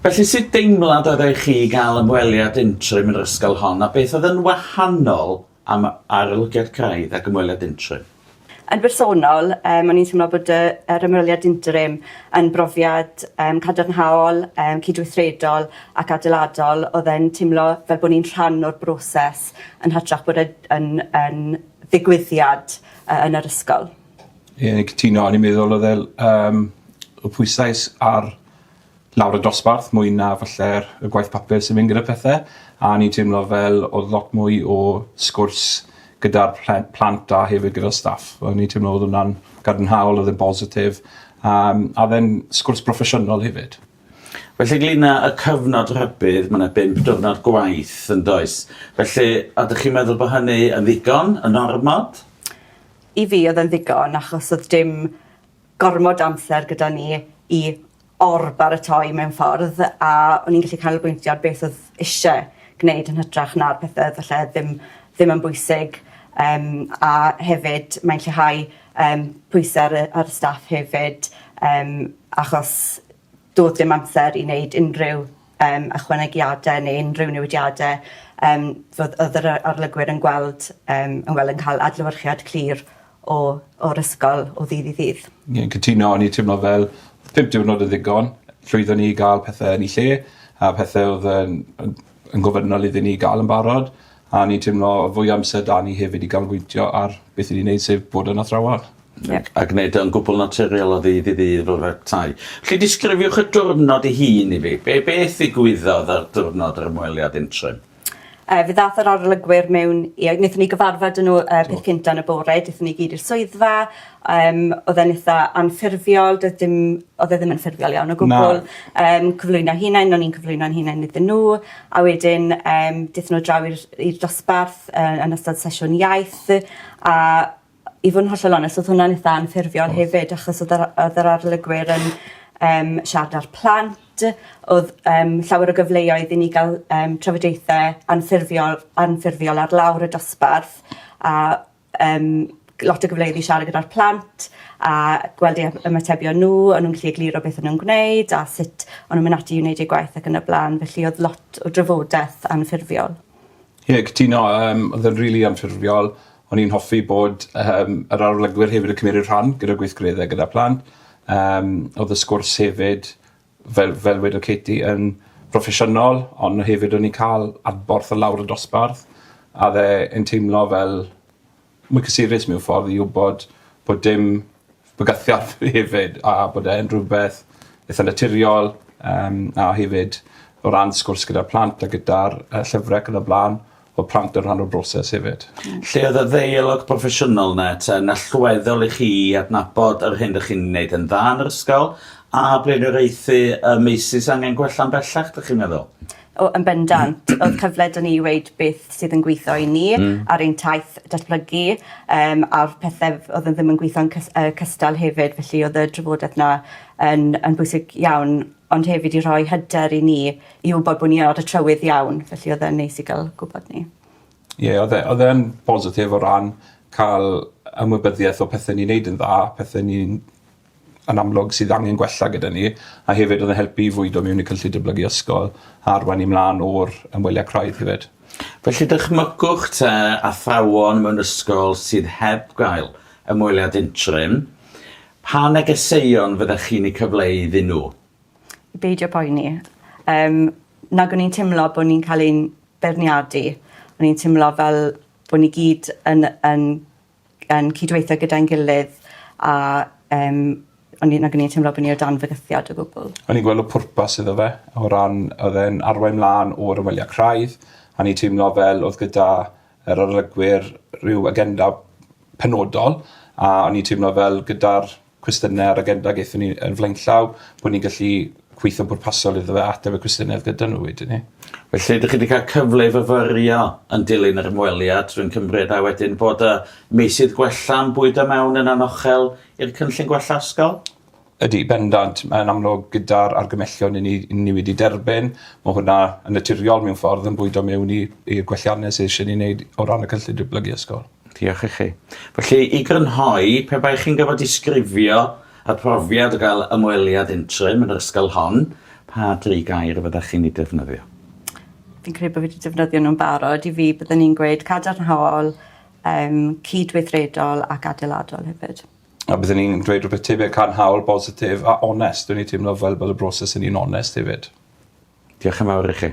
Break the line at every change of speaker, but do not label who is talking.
Felly, sut deimlad oeddech chi i gael ymweliad interim yn yr ysgol hon, a beth oedd yn wahanol am arolygiad craidd ac ymweliad interim? Yn bersonol,
um, o'n i'n teimlo bod y, yr ymweliad interim yn brofiad um, cadarnhaol, um, cydweithredol ac adeiladol. Oedd e'n teimlo fel bod ni'n rhan o'r broses yn hytrach bod e yn, yn ddigwyddiad uh, yn yr ysgol. Ie, yeah,
cytuno. O'n i'n meddwl oedd e'n um, y pwysais ar lawr y dosbarth mwy na falle'r y gwaith papur sy'n mynd gyda pethe a o'n i'n teimlo fel o'dd lot mwy o sgwrs gyda'r plen- plant a hefyd gyda staff o'n i'n teimlo o'dd wnna'n gadarnhaol o'dd e'n bositif a yym a o'dd e'n sgwrs broffesiynol hefyd. Felly ynglŷn
â y cyfnod rhybudd ma' 'na bump diwrnod gwaith yndoes? Felly ydych chi'n meddwl bo' hynny yn ddigon, yn ormod? I fi
o'dd e'n ddigon achos o'dd dim gormod o amser gyda ni i or-baratoi mewn ffordd a o'n i'n gallu canolbwyntio ar beth oedd isie gwneud yn hytrach na'r pethe oedd falle ddim ddim yn bwysig um, a hefyd mae'n lleihau um, pwysau ar, ar y staff hefyd um, achos Doedd dim amser i wneud unrhyw yym ychwanegiadau neu unrhyw newidiadau yym fod- oedd yr yy arlygwyr yn gweld yym yn wel yn ca'l adlewyrchiad clir o o'r ysgol o ddydd i ddydd. Ie cytuno o'n i
teimlo fel pump diwrnod yn ddigon. Llwyddon ni i ga'l pethe yn 'u lle a pethe odd yn yn yn gofynnol iddyn ni ga'l yn barod a o'n i'n timlo odd fwy o amser 'da ni hefyd i ganolbwyntio ar beth 'yn ni'n neud sef bod yn athrawon. Ie. A gneud
o'n gwbwl naturiol o ddydd i ddydd fel petai. 'Lly disgrifiwch y diwrnod 'i hun i fi. Be' beth ddigwyddodd ar diwrnod yr ymweliad interim? Yy fe ddath
yr arolygwyr mewn i yy nethon ni gyfarfod â n'w y peth cynta yn y bore dethon ni gyd i'r swyddfa Yym odd e'n itha anffurfiol doedd dim odd e ddim yn ffurfiol iawn o gwbwl. Na. Yym cyflwyno hunain o'n i'n cyflwyno'n hunain iddyn n'w a wedyn yym dethon n'w draw i'r i'r dosbarth yy yn ystod sesiwn iaith a i fod yn hollol onest odd hwnna'n itha anffurfiol hefyd achos odd yr a- odd yr arolygwyr yn yym siarad â'r plant odd yym llawer o gyfleoedd i ni ga'l yym trafodaethe anffurfiol anffurfiol ar lawr y dosbarth a yym lot o gyfleoedd i siarad gyda'r plant a gweld eu hy- ymatebion n'w o'n nw'n gallu egluro beth o'n nw'n gwneud a sut o'n nw'n myn' ati i wneud eu gwaith ac yn y bla'n felly odd lot o drafodeth anffurfiol. Ie cytuno
yym odd e'n rili anffurfiol o'n i'n hoffi bod yym yr arolygwyr hefyd yn cymeryd rhan gyda gweithgaredde gyda plant yym odd y sgwrs hefyd fel fel wedodd Katie yn broffesiynol ond hefyd o'n ni'n ca'l adborth o lawr y dosbarth a o'dd e yn teimlo fel mwy cysurus mewn ffordd i wbod bod dim bygythiad hefyd a bod e yn rwbeth itha naturiol yym a hefyd o ran sgwrs gyda'r plant a gyda'r yy llyfre ac yn y bla'n fod plant yn rhan o'r broses hefyd. Lle oedd y ddeialog
broffesiynol 'na te yn allweddol i chi i adnabod yr hyn 'dych chi'n wneud yn dda yn yr ysgol a blaenoriaethu y meysydd sy angen gwella'n bellach 'dych chi'n meddwl? O yn bendant.
O'dd cyfle 'da ni i weud beth sydd yn gwitho i ni... Hmm. ...ar ein taith datblygu yym a'r pethe f- o'dd yn ddim yn gwitho'n cys- yy cystal hefyd felly o'dd y drafodeth 'na yn yn bwysig iawn ond hefyd i rhoi hyder i ni i wybod bo' ni ar y trywydd iawn felly odd e'n neis i ga'l gwbod 'ny. Ie odd e
odd e yn bositif o ran ca'l ymwybyddieth o pethe ni'n neud yn dda a pethe ni'n yn amlwg sydd angen gwella gyda ni a hefyd odd e'n helpu i fwydo mewn i cynllun dyblygu ysgol a arwain ni mlan o'r ymwelia craidd hefyd. Felly
dychmygwch te athrawon mewn ysgol sydd heb gael ymweliad interim, pa negeseuon fyddech chi'n eu cyfleu iddyn nhw? I beidio
poeni. Yym nag o'n i'n timlo bo' ni'n ca'l ein beirniadu. O'n i'n timlo fel bo' ni gyd yn yn yn cydweithio gyda'n gilydd a yym o'n i'n nag o'n i'n timlo bo' ni o dan fygythiad o gwbwl. O'n i'n gweld y pwrpas
iddo fe o ran odd e'n arwain mlan o'r ymwelia craidd a o'n i'n teimlo fel odd gyda yr arolygwyr ryw agenda penodol a o'n i'n teimlo fel gyda'r cwestiynau ar agenda gaethon ni yn flaenllaw, bod ni'n gallu gweithio'n bwrpasol iddo fe a ateb y cwestiynau oedd gyda nhw wedyn 'ny. Felly, dych chi 'di cael
cyfle i fyfyrio yn dilyn yr ymweliad, rwy'n cymryd, a wedyn bod y meysydd gwella'n bwydo mewn yn anochel i'r cynllun gwella ysgol? Ydy, bendant.
Mae'n amlwg gyda'r argymellion i ni, i ni wedi derbyn, mae hwnna yn naturiol mewn ffordd yn bwydo mewn i, i'r gwelliannau sydd eisiau ni wneud o ran y cynllun diblygu ysgol. Diolch i chi.
Felly, i grynhoi, pe baech chi'n gorfod disgrifio y profiad o gael ymweliad interim yn yr ysgol hon, pa dri gair fyddech chi'n eu defnyddio? Fi'n credu
bod fi wedi defnyddio nhw'n barod. I fi, byddwn i'n gweud cadarnhaol, um, cydweithredol ac adeiladol hefyd. A byddwn i'n dweud
rhywbeth tebyg cadarnhaol, bositif a onest. Dwi'n ei teimlo fel
bod y
broses yn un
onest
hefyd.
Diolch
yn fawr i chi.